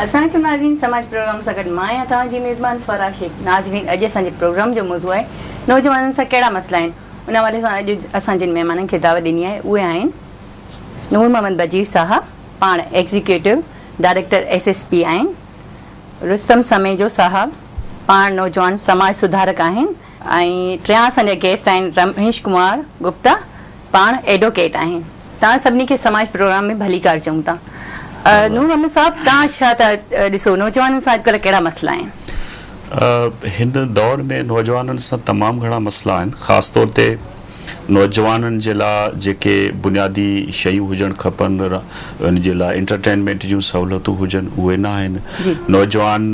اسلام عليڪم ناظرين سماج پروگرام سان گڏ مان آهيان توهان جي ميزبان فرح شيخ ناظرين اڄ اسان جي پروگرام جو موضوع آهي نوجوانن سان ڪهڙا مسئلا آهن ان حوالي سان اڄ اسان جن مهمانن کي دعوت ڏني آهي اهي آهن نور محمد بجير صاحب پاڻ executive director S S P آهن رستم سميجو صاحب پاڻ نوجوان سماج سڌارڪ آهن ۽ ٽيان اسان جا گيسٽ آهن رميش ڪمار گپتا پاڻ ايڊوڪيٽ آهن توهان سڀني کي سماج پروگرام ۾ ڀليڪار چئون ٿا نور محمد صاحب توهان ڇا ٿا ڏسو نوجوانن سان اڄڪلهه ڪهڙا مسئلا آهن؟ هن دور ۾ نوجوانن سان تمام گهڻا مسئلا آهن خاص طور تي نوجوانن جي لاء جيڪي بنيادي شيون هجڻ کپن ان جي لاء انٽرٽينمينٽ جون سهولتون هجن اهي نه آهن نوجوان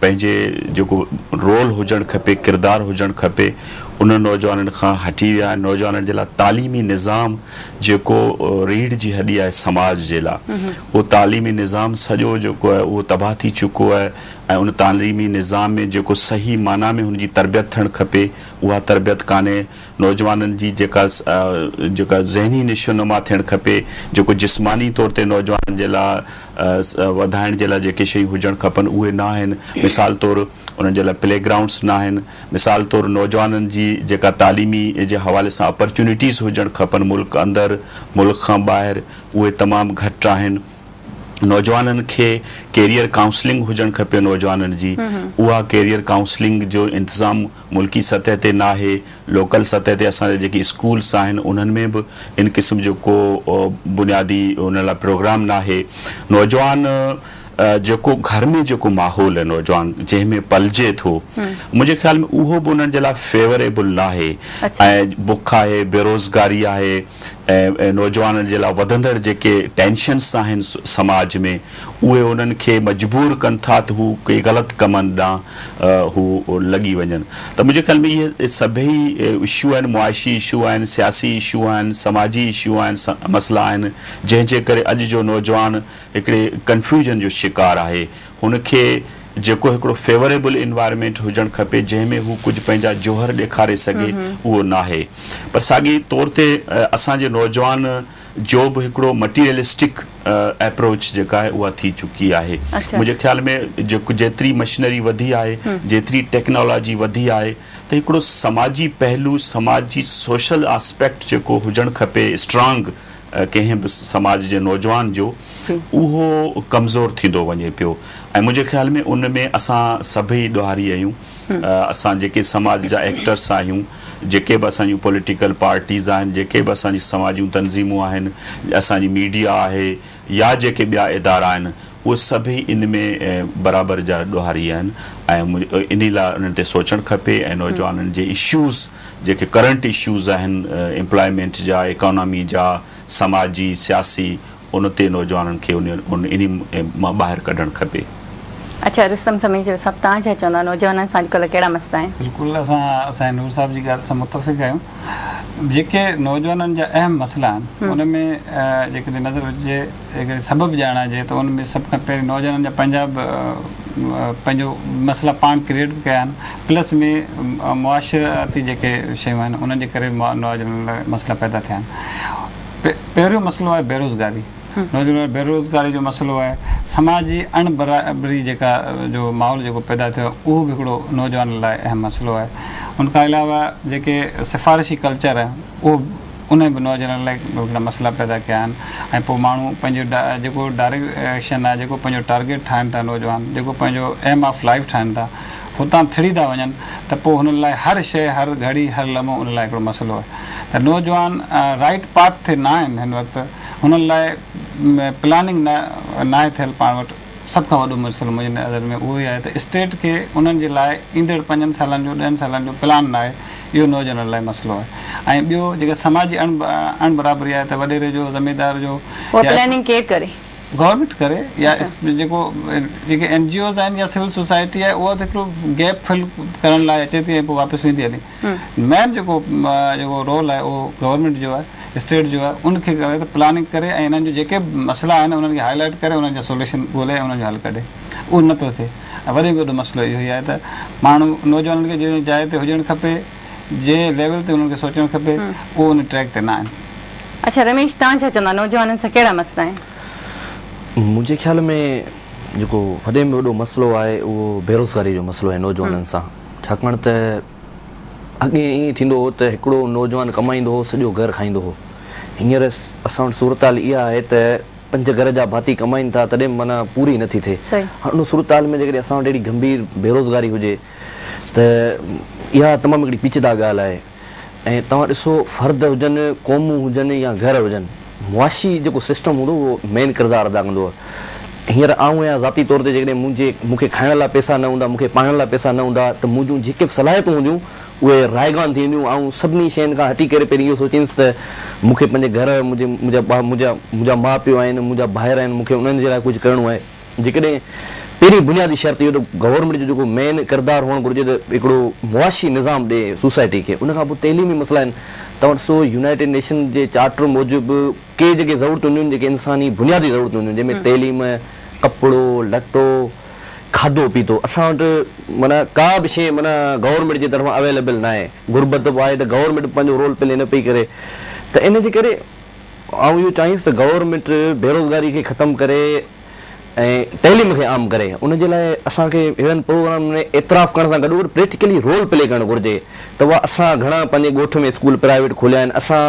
پنهنجي جيڪو رول هجڻ کپي ڪردار هجڻ کپي انهن نوجوانن کان هٽي ويا آهن نوجوانن جي لاء تعليمي نظام جيڪو ريڙهه جي هڏي آهي سماج جي لاء اهو تعليمي نظام سڄو جيڪو آهي اهو تباهه ٿي چڪو آهي ۽ ان تعليمي نظام ۾ جيڪو صحيح معنيٰ ۾ هن جي تربيت ٿيڻ کپي اها تربيت ڪانهي نوجوانن جي جيڪا جيڪا ذهني نشو نما ٿيڻ کپي، جيڪو جسماني طور تي نوجوانن جي لاء وڌائڻ جي لاء جيڪي شيون هجڻ کپن اهي نه آهن، مثال طور انهن جي لاء پلي گرائونڊس نه آهن، مثال طور نوجوانن جي جيڪا تعليمي جي حوالي سان اپرچونيٽيز هجڻ کپن ملڪ اندر ملڪ کان ٻاهر اهي تمام گهٽ آهن، نوجوانن کي ڪيريئر ڪائونسلنگ هجڻ کپي نوجوانن جي اها ڪيريئر ڪائونسلنگ جو انتظام. ملڪي سطح تي ناهي، لوڪل سطح تي اسان جا جيڪي اسڪولس آهن انهن ۾ به ان قسم جو ڪو بنيادي ان لاء پروگرام ناهي. نوجوان جيڪو گهر ۾ جيڪو ماحول آهي نوجوان جنهن ۾ پلجي ٿو منهنجي خيال ۾ اهو به انهن جي لاء فيوريبل ناهي ۽ بک آهي، بيروزگاري آهي ۽ نوجوانن جي لاء وڌندڙ جيڪي ٽينشنس آهن سماج ۾. اهي هنن کي مجبور ڪن ٿا ته هو ڪي غلط ڪمن ڏانهن هو لڳي وڃن ته منهنجي خيال ۾ اهي سڀئي اشو آهن معاشي اشو آهن سياسي اشو آهن سماجي اشو آهن مسئلا آهن جنهن جي ڪري اڄ جو نوجوان هڪڙي ڪنفيوجن جو شڪار آهي هن کي جيڪو هڪڙو فيوريبل انوائرمينٽ هجڻ کپي جنهن ۾ هو ڪجهه پنهنجا جوهر ڏيکاري سگهي اهو ناهي پر ساڳي طور تي اسان جي نوجوان جو به هڪڙو مٽيريلسٽڪ ايپروچ جيڪا آهي اها ٿي چڪي آهي منهنجي خيال ۾ جيتري مشنري وڌي آهي جيتري ٽيڪنالاجي وڌي آهي ته هڪڙو سماجي پهلو سماجي سوشل آسپيڪٽ جيڪو هجڻ کپي اسٽرانگ ڪنهن به سماج جي نوجوان جو اهو ڪمزور ٿيندو وڃي پيو ۽ منهنجي خيال ۾ ان ۾ اسان سڀئي ڏوهاري آهيون اسان جيڪي سماج جا ايڪٽرس آهيون جيڪي به اسان جون پوليٽيڪل پارٽيز آهن، جيڪي به اسان جي سماج جون تنظيمون آهن، اسان جي ميڊيا آهي يا جيڪي ٻيا ادارا آهن اهي سڀئي ان ۾ برابر جا ڏوهاري آهن ۽ انهي لاء انهن تي سوچڻ کپي ۽ نوجوانن جي اشوز جيڪي ڪرنٽ اشوز آهن امپلائمينٽ جا، اڪانامي جا، سماجي، سياسي ان تي نوجوانن کي انهي مان ٻاهر ڪڍڻ کپي. اڇا رستم سميجو صاحب توهان ڇا چوندا نوجوانن سان اڄڪلهه ڪهڙا مسئلا آهن؟ بلڪل اسان سائين نور صاحب جي ڳالهه سان متفق آهيون جيڪي نوجوانن جا اهم مسئلا آهن ان ۾ جيڪڏهن نظر وجهجي جيڪڏهن سبب ڄاڻائجي ته ان ۾ سڀ کان پهرين نوجوانن جا پنهنجا به پنهنجو مسئلا پاڻ ڪريئيٽ به ڪيا آهن پلس ۾ معاشرتي جيڪي شيون آهن انهن جي ڪري نوجوانن لاء مسئلا پيدا ٿيا آهن پهريون مسئلو آهي بيروزگاري، نوجوانن بيروزگاري جو مسئلو آهي، سماجي اڻ برابري جيڪا جو ماحول جيڪو پيدا ٿيو آهي اهو به هڪڙو نوجوانن لاء اهم مسئلو آهي، ان کان علاوه جيڪي سفارشي ڪلچر آهي اهو انهن به نوجوانن لاء هڪڙا مسئلا پيدا ڪيا آهن ۽ پوء ماڻهو پنهنجو جيڪو ڊائريڪشن آهي جيڪو پنهنجو ٽارگيٽ ٺاهن ٿا نوجوان جيڪو پنهنجو ايم آف لائيف ٺاهن ٿا هتان ٿڙي ٿا وڃن ته پوء هنن لاء هر شيء، هر گهڙي، هر لمحو ان لاء هڪڙو مسئلو آهي ته نوجوان رائيٽ پاٿ تي نه آهن هن وقت هنن لاء پلاننگ نه ناهي ٿيل پاڻ وٽ سڀ کان وڏو مسئلو منهنجي نظر ۾ اهو ئي آهي ته اسٽيٽ کي انهن جي لاء ايندڙ پنجن سالن جو ڏهن سالن جو پلان نه آهي اهو نوجوانن لاء مسئلو آهي ۽ ٻيو جيڪا سماجي اڻ برابري آهي ته وڏيري جو زميندار جو اها پلاننگ ڪير ڪري. گورنمينٽ ڪري يا جيڪو جيڪي اين جي اوز آهن يا سول سوسائٽي آهي اها هڪڙو گيپ فل ڪرڻ لاء اچي ٿي ۽ پوء واپس ويندي هلي مين جيڪو جيڪو رول آهي اهو گورنمينٽ جو آهي اسٽيٽ جو آهي ان کي ڪري ته پلاننگ ڪري ۽ انهن جو جيڪي به مسئلا آهن انهن کي هائي لائيٽ ڪري انهن جو سوليوشن ڳولي ۽ انهن جو حل ڪڍي اهو نه پيو ٿئي ۽ وري به وڏو مسئلو اهو ئي آهي ته ماڻهو نوجوانن کي جنهن جاء تي هجڻ کپي جنهن ليول تي انهن کي سوچڻ کپي اهو ان ٽريڪ تي نه آهن. اڇا رميش توهان ڇا چوندا نوجوانن سان ڪهڙا مسئلا آهن؟ منهنجي خيال ۾ جيڪو وڏي ۾ وڏو مسئلو آهي اهو بيروزگاري جو مسئلو آهي نوجوانن سان ڇاڪاڻ ته اڳي ائين ٿيندو هو ته هڪڙو نوجوان ڪمائيندو هو سڄو گهر کائيندو هو هينئر اسان وٽ صورتحال اها آهي ته پنج گهر جا ڀاتي ڪمائين ٿا تڏهن به معنيٰ پوري نٿي ٿئي هاڻ ان صورتحال ۾ جيڪڏهن اسان وٽ اهڙي گنڀير بيروزگاري هجي ته اها تمام هڪڙي پيچيده ڳالهه آهي ۽ توهان ڏسو فرد هجن، قومون هجن يا گهر هجن، معاشي جيڪو سسٽم هوندو اهو مين ڪردار ادا ڪندو آهي. هينئر آئون آهيان ذاتي طور تي جيڪڏهن منهنجي مون کي کائڻ لاء پئسا نه هوندا، مون کي پاڻڻ لاء پئسا نه هوندا ته منهنجون جيڪي به صلاحيتون هونديون اهي رائيگان ٿي وينديون. آئون سڀني شين کان هٽي ڪري پهرين اهو سوچينس ته مون کي پنهنجي گهر، منهنجي منهنجا منهنجا ماء پيء آهن، منهنجا ڀائر آهن، مون کي انهن جي لاء ڪجهه ڪرڻو آهي. جيڪڏهن پهرين بنيادي شرط اهو ته گورنمينٽ جو جيڪو مين ڪردار هئڻ گهرجي ته هڪڙو معاشي نظام ڏئي سوسائٽي کي ان کان پوء تعليمي مسئلا آهن توهان ڏسو يونائيٽيڊ نيشن جي چارٽر موجب ڪي جيڪي ضرورتون هونديون آهن جيڪي انساني بنيادي ضرورتون هونديون آهن جنهن ۾ تعليم ڪپڙو لٽو کاڌو پيتو اسان وٽ معنيٰ ڪا به شيء معنيٰ گورنمينٽ جي طرفان اويليبل ناهي غربت به آهي ته گورنمينٽ به پنهنجو رول پلي نه پئي ڪري ته ان جي ڪري آئون اهو چاهيس ته گورنمينٽ بيروزگاري کي ختم ڪري ۽ تعليم کي عام ڪري ان جي لاء اسان کي اهڙن پروگرامن ۾ اعتراف ڪرڻ سان گڏوگڏ پريڪٽيڪلي رول پلي ڪرڻ گهرجي ته اها اسان گهڻا پنهنجي ڳوٺ ۾ اسڪول پرائيويٽ کوليا آهن اسان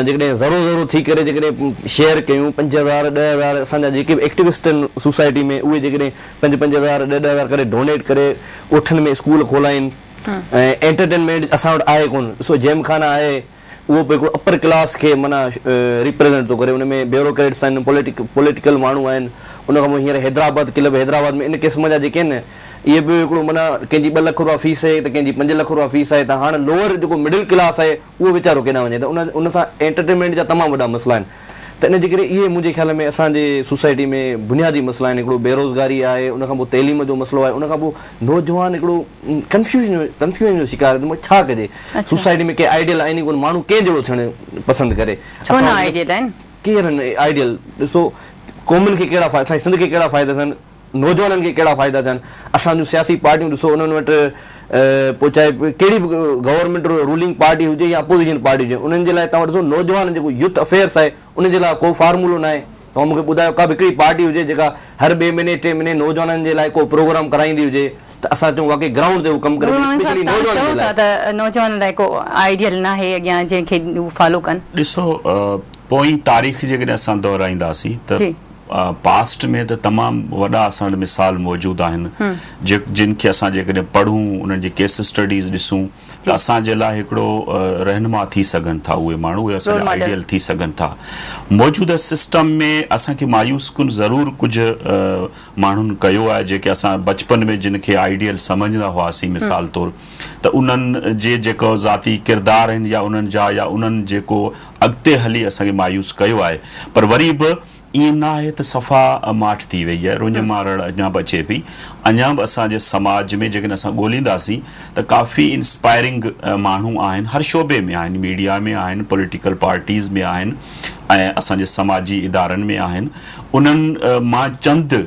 جيڪڏهن ذرو ذرو ٿي ڪري جيڪڏهن شيئر ڪيون پنج هزار ڏهه هزار اسان جا جيڪي به ايڪٽيوسٽ آهن سوسائٽي ۾ اهي جيڪڏهن پنج پنج هزار ڏهه ڏهه هزار ڪري ڊونيٽ ڪري ڳوٺن ۾ اسڪول کولائين ۽ انٽرٽينمينٽ اسان وٽ آهي ڪونه ڏسو جيم خانا آهي اهو به هڪڙو اپر ڪلاس کي معنيٰ ريپريزنٽ ٿو ڪري ان ۾ بيوروڪريٽس آهن پوليٽيڪل ماڻهو آهن ان کان پوء هينئر حيدرآباد ڪلب حيدرآباد ۾ ان قسم جا جيڪي آهن اهي به هڪڙو معنيٰ ڪنهن جي ٻه لک روپيا فيس آهي ته ڪنهن جي پنج لک روپيا فيس آهي ته هاڻ لوئر جيڪو مڊل ڪلاس آهي اهو ويچارو ڪيڏانهن وڃي ته ان سان انٽرٽينمينٽ جا تمام وڏا مسئلا آهن ته ان جي ڪري اهي منهنجي خيال ۾ اسان جي سوسائٽي ۾ بنيادي مسئلا آهن هڪڙو بيروزگاري آهي ان کان پوء تعليم جو مسئلو آهي ان کان پوء نوجوان هڪڙو ڪنفيوزن ڪنفيوزن جو شڪار آهي ته ڇا ڪجي سوسائٽي ۾ ڪي آئيڊيل آهن ئي ڪونه ماڻهو ڪنهن جهڙو ٿيڻ پسند ڪري ڇو نه آئيڊيل آهن ڪير آهن آئيڊيل ڏسو قومن کي ڪهڙا فائدا اسان جي سنڌ کي ڪهڙا فائدا ٿين نوجوانن کي ڪهڙا فائدا ٿين اسان جون سياسي پارٽيون ڏسو انهن وٽ پوء چاهي ڪهڙي به گورنمينٽ رولنگ پارٽي هجي يا اپوزيشن پارٽي هجي انهن جي لاء توهان ڏسو نوجوان جيڪو يوٿ افيئرس آهي ان جي لاء ڪو فارمولو ناهي توهان مون کي ٻڌايو ڪا به هڪڙي پارٽي هجي جيڪا هر ٻئي مهيني ٽي مهيني نوجوانن جي لاء ڪو پروگرام ڪرائيندي هجي ته اسان چئون واقعي گرائونڊ تي هو ڪم ڪري ٿي اسپيشلي نوجوانن جي لاء. نوجوانن لاء ڪو آئيڊيل ناهي اڳيان جنهن کي هو فالو ڪن. ڏسو پوئين تاريخ جيڪڏهن اسان دهرائينداسين ته پاسٽ ۾ ته تمام وڏا اسان وٽ مثال موجود آهن جن کي اسان جيڪڏهن پڙهون انهن جي ڪيس اسٽڊيز ڏسون ته اسان جي لاء هڪڙو رهنما ٿي سگهن ٿا اهي ماڻهو اهي اسان جا آئيڊيل ٿي سگهن ٿا موجوده سسٽم ۾ اسان کي مايوس ڪن ضرور ڪجهه ماڻهن ڪيو آهي جيڪي اسان بچپن ۾ جن کي آئيڊيل سمجهندا هئاسين مثال طور ته انهن جي جيڪو ذاتي ڪردار آهن يا انهن جا يا انهن جيڪو اڳتي هلي اسان کي مايوس ڪيو آهي پر وري به ائين نه آهي ته صفا ماٺ ٿي وئي آهي رڃ مارڙ اڃا به اچي پئي اڃا به اسان جي سماج ۾ جيڪڏهن اسان ڳولينداسين ته ڪافي انسپائرنگ ماڻهو آهن هر شعبي ۾ آهن ميڊيا ۾ آهن پوليٽيڪل پارٽيز ۾ آهن ۽ اسان جي سماجي ادارن ۾ آهن انهن مان چند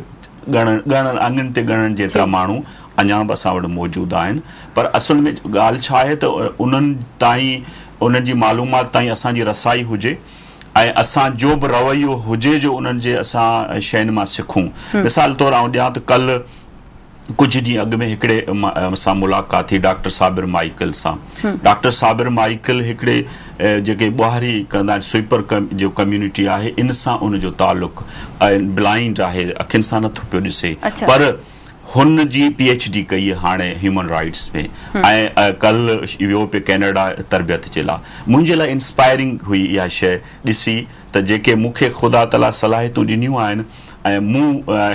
ڳڻڻ ڳڻڻ آڱرين تي ڳڻڻ جيترا ماڻهو اڃا به اسان وٽ موجود آهن پر اصل ۾ ڳالهه ڇا آهي ته انهن تائين انهن جي معلومات تائين اسان جي رسائي هجي ۽ اسان جو به رويو هجي جو انهن جي اسان شين مان سکون مثال طور آئون ڏيان ته ڪل ڪجهه ڏينهن اڳ ۾ هڪڙي سان ملاقات ٿي ڊاڪٽر صابر مائيڪل سان ڊاڪٽر صابر مائيڪل هڪڙي جيڪي ٻهاري ڪندا آهن سوئپر جو ڪميونٽي آهي ان سان ان جو تعلق بلائنڊ آهي اکين سان نٿو پيو ڏسي پر هن جي پي ايڇ ڊي ڪئي هاڻي هيومن رائيٽس ۾ ۽ ڪل ويو پي ڪينيڊا تربيت جي لاء منهنجي لاء انسپائرنگ هئي اها شيء ڏسي ته جيڪي مون کي خدا تعالي صلاحيتون ڏنيون آهن ۽ مون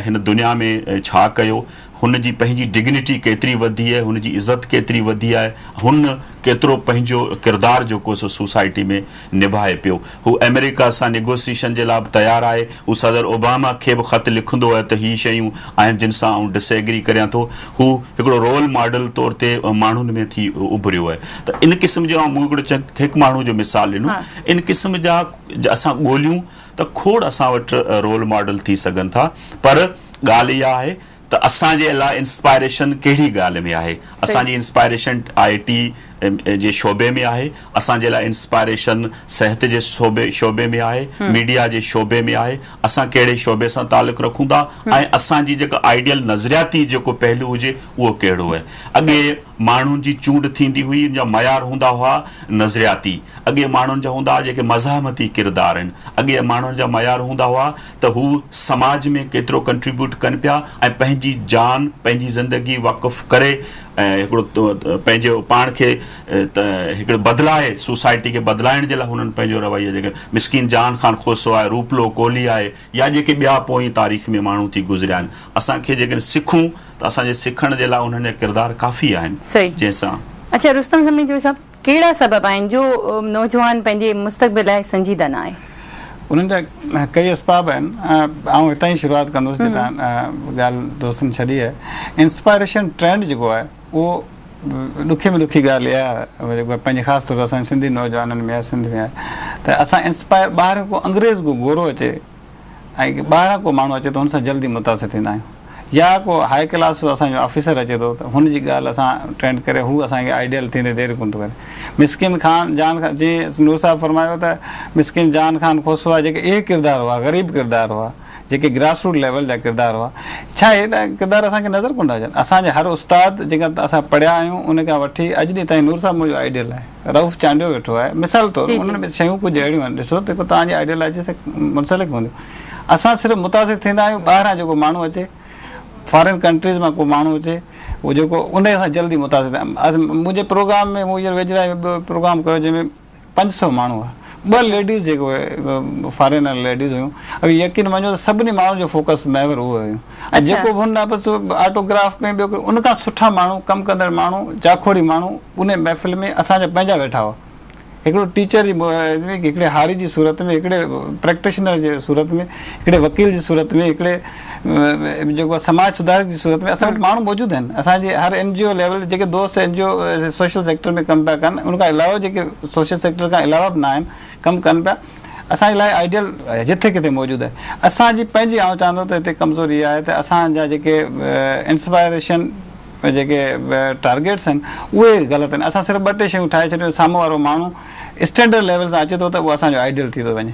هن دنيا ۾ ڇا ڪيو هن جي پنهنجي ڊگنيٽي ڪيتري وڌي آهي هن جي عزت ڪيتري وڌي آهي هن ڪيترو پنهنجو ڪردار جيڪو سو سوسائٽي ۾ نڀائي پيو. هو آمريڪا سان نيگوسيئشن جي لاء به تيار آهي. هو صدر اوباما کي به خط لکندو ته هي شيون آهن جن سان آئون ڊس ايگري ڪريان ٿو. هو هڪڙو رول ماڊل طور تي ماڻهن ۾ ٿي اڀريو آهي ته ان قسم جو مون هڪڙو هڪ ماڻهو جو مثال ڏنو ان قسم جا اسان ڳوليون ته کوڙ اسان وٽ رول ماڊل ٿي سگهن ٿا پر ڳالهه اها آهي ته اسان جي لاء انسپائريشن ڪهڙي ڳالهه ۾ آهي؟ اسان جي انسپائريشن آء ٽي جي شعبي ۾ آهي، اسان جي لاء انسپائريشن صحت جي شعبي ۾ آهي، ميڊيا جي شعبي ۾ آهي، اسان ڪهڙي شعبي سان تعلق رکون ٿا ۽ اسان جي جيڪا آئيڊيل نظرياتي جيڪو پهلو هجي اهو ڪهڙو آهي. اڳي ماڻهن جي چونڊ ٿيندي هئي ان جا معيار هوندا هئا نظرياتي، اڳي ماڻهن جا هوندا هئا جيڪي مزاحمتي ڪردار آهن، اڳي ماڻهن جا معيار هوندا هئا ته هو سماج ۾ ڪيترو ڪنٽريبيوٽ ڪن پيا ۽ پنهنجي جان پنهنجي زندگي وقف ڪري هڪڙو پنهنجي پاڻ کي هڪڙي بدلائي سوسائٽي کي بدلائڻ جي لاء هنن پنهنجو رويو جيڪي مسڪين جان خان کوسو آهي روپلو ڪولهي آهي يا جيڪي ٻيا پوئين تاريخ ۾ ماڻهو ٿي گذريا آهن اسان کي جيڪڏهن سکون ته اسان جي سکڻ جي لاء انهن جا ڪردار ڪافي آهن جنهن سان اچا رستم سميجو صاحب ڪهڙا سبب آهن جو نوجوان پنهنجي مستقبل لاء سنجيده نه آهي؟ انهن جا ڪيئي اسباب آهن. آئون هتان ئي شروعات ڪندس جتان ڳالهه دوستن ڇڏي آهي. انسپائريشن ٽرينڊ جيڪو آهي اهو ڏکي ۾ ڏکي ڳالهه اها آهي جيڪو پنهنجي خاص طور اسان جي سنڌي نوجوانن ۾ آهي سنڌ ۾ آهي ته اسان انسپائر ٻاهران ڪو انگريز ڪو گورو اچي ۽ ٻاهران ڪو ماڻهو اچي ٿو ان سان جلدي متاثر ٿيندا آهيون يا ڪو هاء ڪلاس جو اسان جو آفيسر اچي ٿو ته هن جي ڳالهه اسان ٽرينڊ ڪري هو اسان کي آئيڊيل ٿيندي دير ڪونه ٿو ڪري مسڪين خان جان خان جي نور صاحب فرمايو ته مسڪين جان خان کوسوا جيڪي اهي ڪردار هئا غريب ڪردار هئا جيڪي گراس روٽ ليول جا ڪردار هئا ڇا اهي ڪردار اسان کي نظر ڪونه ٿا اچن اسان جي هر استاد جيڪا اسان پڙهيا آهيون ان کان وٺي اڄ ڏينهن تائين نور صاحب منهنجو آئيڊيل آهي. رئوف چانڊيو ويٺو آهي مثال طور انهن ۾ شيون ڪجهه اهڙيون آهن ڏسو جيڪو توهان جي آئيڊيالاجي سان منسلڪ هونديون اسان صرف متاثر ٿيندا آهيون ٻاهران جيڪو ماڻهو اچي فارين ڪنٽريز مان ڪو ماڻهو اچي هو جيڪو ان سان جلدي متاثر منهنجي پروگرام ۾ مون هينئر ويجهڙائي ۾ ٻيو پروگرام ڪيو جنهن ۾ پنج سؤ ماڻهو هئا ٻه ليڊيز جيڪو فارينر ليڊيز هيون يقين مڃو ته سڀني ماڻهن جو فوڪس محور اهو هيون ۽ جيڪو به هن بس آٽو گراف ۾ ٻيو ان کان سٺا ماڻهو ڪم ڪندڙ ماڻهو جاکوڙي ماڻهو ان محفل ۾ اسان جا پنهنجا ويٺا هئا هڪڙو ٽيچر جي هڪڙي هاري جي صورت ۾ هڪڙي پريڪٽيشنر جي صورت ۾ هڪڙي وڪيل جي صورت ۾ هڪڙي جيڪو سماج سڌارڪ جي صورت ۾ اسان وٽ ماڻهو موجود آهن اسان جي هر اين جي او ليول جيڪي دوست N G O social sector ۾ ڪم پيا ڪن ان کان علاوه جيڪي سوشل سيڪٽر کان علاوه به نه آهن ڪم ڪن پيا اسان جي لاء آئيڊيل جٿي ڪٿي موجود آهي اسان جي پنهنجي آئون چاهندو ته هتي ڪمزوري اها آهي ته اسان جا جيڪي انسپائريشن جيڪي ٽارگيٽس آهن اهي غلط آهن اسان صرف ٻه ٽي شيون ٺاهي ڇڏيون سامهون وارو ماڻهو اسٽينڊرڊ ليول سان اچي ٿو ته اهو اسان جو آئيڊيل ٿي ٿو وڃي.